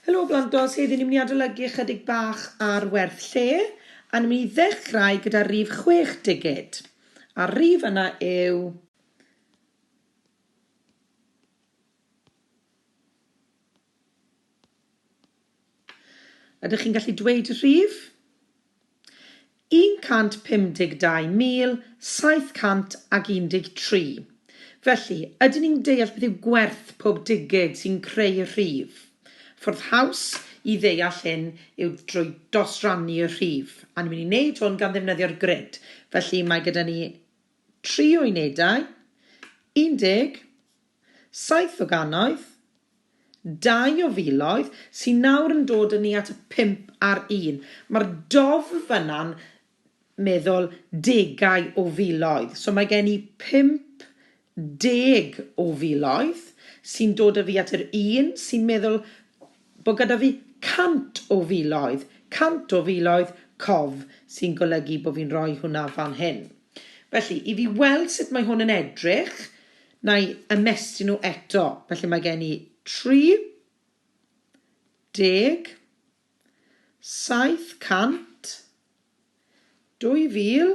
Helo Blantos, heddi ni'n mynd i adolygu ychydig bach ar werth lle a ni'n mynd i ddechrau gyda rif chwech digid a'r rif yna yw Ydych chi'n gallu dweud y rhif? 152.713. Felly, ydyn ni'n deall beth yw gwerth pob digid sy'n creu y rhif? Ffordd haws i ddeall hyn yw drwy dosrannu y rhif, a ni'n mynd i wneud hwn gan ddefnyddio'r grid. Felly, mae gyda ni tri o unedau, 10, Saith o gannoedd, dau o filoedd, sy'n nawr yn dod â ni at y pump ar un. Mae'r dof fan'na'n meddwl degau o filoedd. So mae gen i pump deg o filoedd sy'n dod â fi at yr un sy'n meddwl bod gyda fi cant o filoedd, cant o filoedd, cof, sy'n golygu bod fi'n rhoi hwnna fan hyn. Felly, i fi weld sut mae hwn yn edrych, na i ymestyn nhw eto. Felly mae gen i 30, 700, 2000,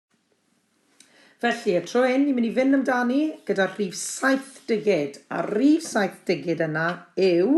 Felly, y tro hyn, ni'n mynd i fynd amdani gyda'r rhif saith digid, a'r rhif saith digid yna yw...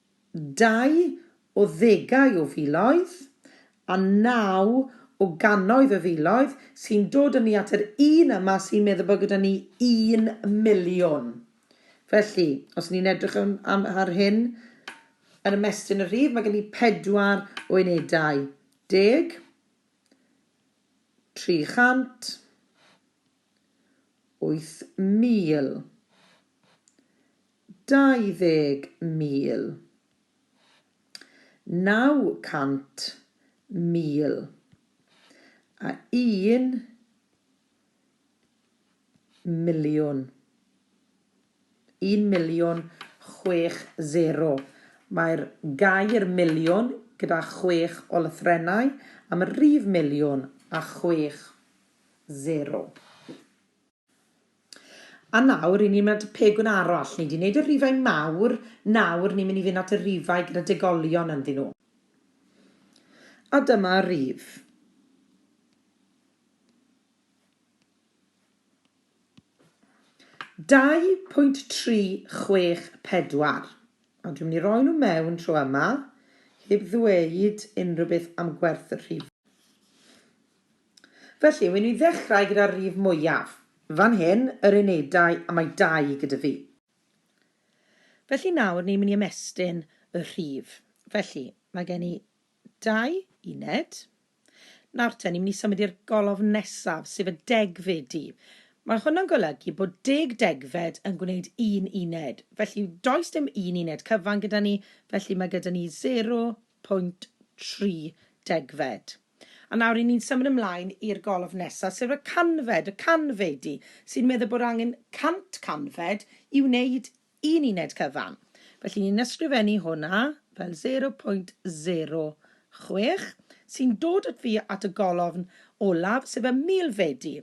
dau o ddegau o filoedd, a naw o gannoedd o filoedd, sy'n dod â ni at yr un yma sy'n meddwl bod gyda ni un miliwn. Felly, os y'n ni'n edrych am, am, ar hyn, yn ymestyn y rhif, mae gen i pedwar o unedau. Deg, 300, 8,000, 900,000 a un miliwn. Un miliwn chwech sero. Mae'r gair miliwn gyda chwech o lythrennau am y rhif miliwn a chwech sero. A nawr, ry'n ni'n mynd at y pegwn arall. Ni 'di wneud y rhifau mawr, nawr ni'n mynd i fynd at y rhifau gyda degolion ynddyn nhw. A dyma rif. Dau pwynt tri chwech pedwar. A dwi'n mynd i roi nhw mewn tro yma, heb ddweud unrhyw beth am gwerth y rhifau. Felly, wn i ddechrau gyda'r rif mwyaf. Fan hyn, yr unedau, a mae dau gyda fi. Felly nawr ni'n mynd i ymestyn y rhif. Felly, mae gen i dau uned. Nawr te, ni'n mynd i symud i'r golofn nesaf, sef y degfedu. Mae hwnna'n golygu bod deg degfed yn gwneud un uned. Felly, does dim un uned cyfan gyda ni, felly mae gyda ni 0, pwynt tri degfed. A nawr ry'n ni'n symud ymlaen i'r golofn nesaf, sef y canfed, y canfedi, sy'n meddwl bod angen cant canfed i wneud un uned cyfan. Felly ni'n ysgrifennu hwnna fel zero pwynt zero chwech, sy'n dod at fi at y golofn olaf, sef y milfedi.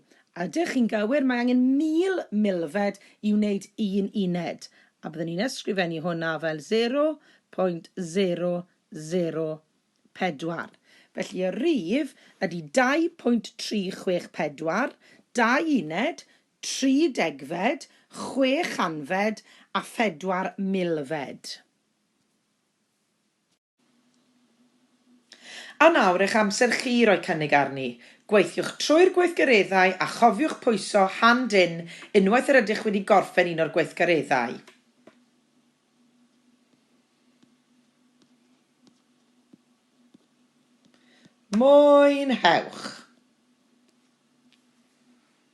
Ydych chi'n gywir, mae angen mil milfed i wneud un uned. A byddwn i'n ysgrifennu hwnna fel 0.0004. Felly y rhif ydy 2.364, dau uned, tri degfed, chwe chanfed a phedwar milfed. A nawr eich amser chi i roi cynnig arni. Gweithiwch trwy'r gweithgareddau a chofiwch pwyso Hand In unwaith yr ydych wedi gorffen un o'r gweithgareddau. Mwynhewch!